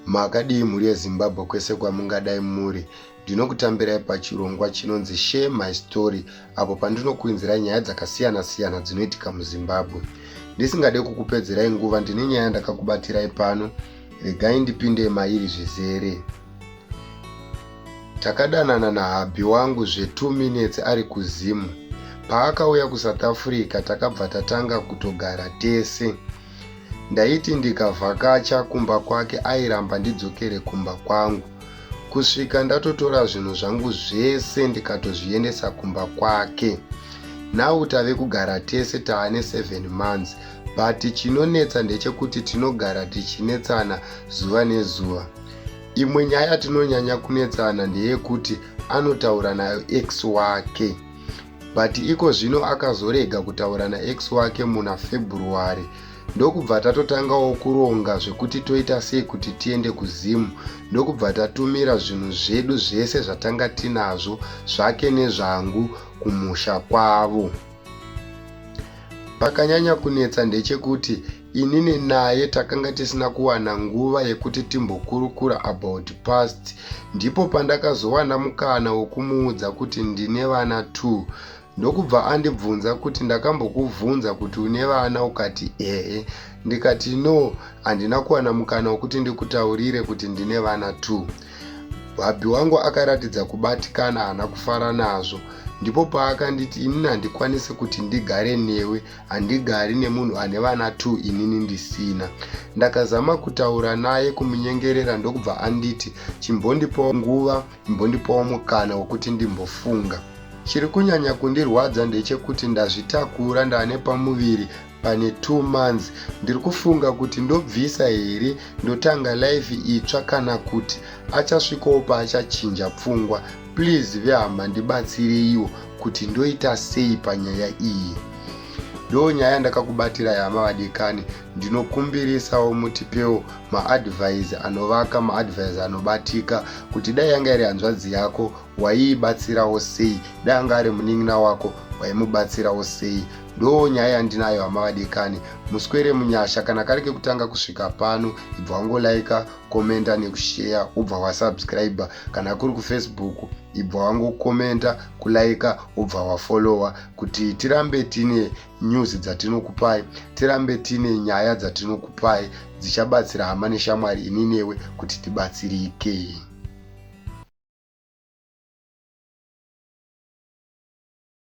Makadii mhuri yeZimbabwe kwese kwamungadai muri. Ndinokutambirai pachirongwa chinonzi Share My Story apo pandinokuinzirai nyaya dzakasiyana-siyana dzinoitika muZimbabwe. Ndisingade kukupedzerai nguva ndine nyaya ndakakubatirai pano, regai ndipinde mairi zvizere. Takadanana nahabhi wangu zve 2 minutes ari kuZim. Paakauya kuSouth Africa takabva tatanga kutogara tese. Ndaiti ndikavhakacha kumba kwake airamba ndidzokere kumba kwangu. Kusvika ndatotora zvinhu zvangu zvese ndikatozviendesa kumba kwake. Now tave kugara tese taane 7 months but chinonetsa ndechekuti tinogara tichinetsana zuva nezuva. Imwe nyaya yatinonyanya kunetsana ndeyekuti anotaura nayo ex wake. but iko zvino akazorega kutaura naex wake muna february ndokubva tatotangawo kuronga zvekuti toita sei kuti tiende kuzim ndokubva tatumira zvinhu zvedu zvese zvatanga tinazvo zvake nezvangu kumusha kwavo pakanyanya kunetsa ndechekuti inini naye takanga tisina kuwana nguva yekuti timbokurukura about past ndipo pandakazowana mukana wokumuudza kuti ndine vana two ndokubva andibvunza kuti ndakambokubvunza kuti une vana ukati ehe ndikati no handina kuwana mukana wekuti ndikutaurire kuti ndine vana two bhabhi wangu akaratidza kubatikana haana kufara nazvo ndipo paakanditi inini handikwanisi kuti ndigare newe handigari nemunhu ane vana t inini ndisina ndakazama kutaura naye kumunyengerera ndokubva anditi chimbondipawo nguva imbondipawo mukana wekuti ndimbofunga chiri kunyanya kundirwadza ndechekuti ndazvitakura ndane pamuviri pane t months ndiri kufunga kuti ndobvisa here ndotanga life itsva kana kuti achasvikowo paachachinja pfungwa please vehama ndibatsireiwo kuti ndoita sei panyaya iyi ndo nyaya yandakakubatira yama vadikani ndinokumbirisawo mutipewo maadvise anovaka maadvise anobatika kuti dai yanga iri hanzvadzi yako waiibatsirawo sei dai anga ari munin'ina wako waimubatsirawo sei ndo nyaya yandinayo hama vadikani muswere munyasha kana kari kekutanga kusvika pano ibva wangolaika komenda nekusheya ubva wasubscribe kana kuri kufacebook ibva wangokomenta kulaika wobva wafollowa kuti tirambe tine news dzatinokupai tirambe tine nyaya dzatinokupai dzichabatsira hama neshamwari ini newe kuti tibatsirike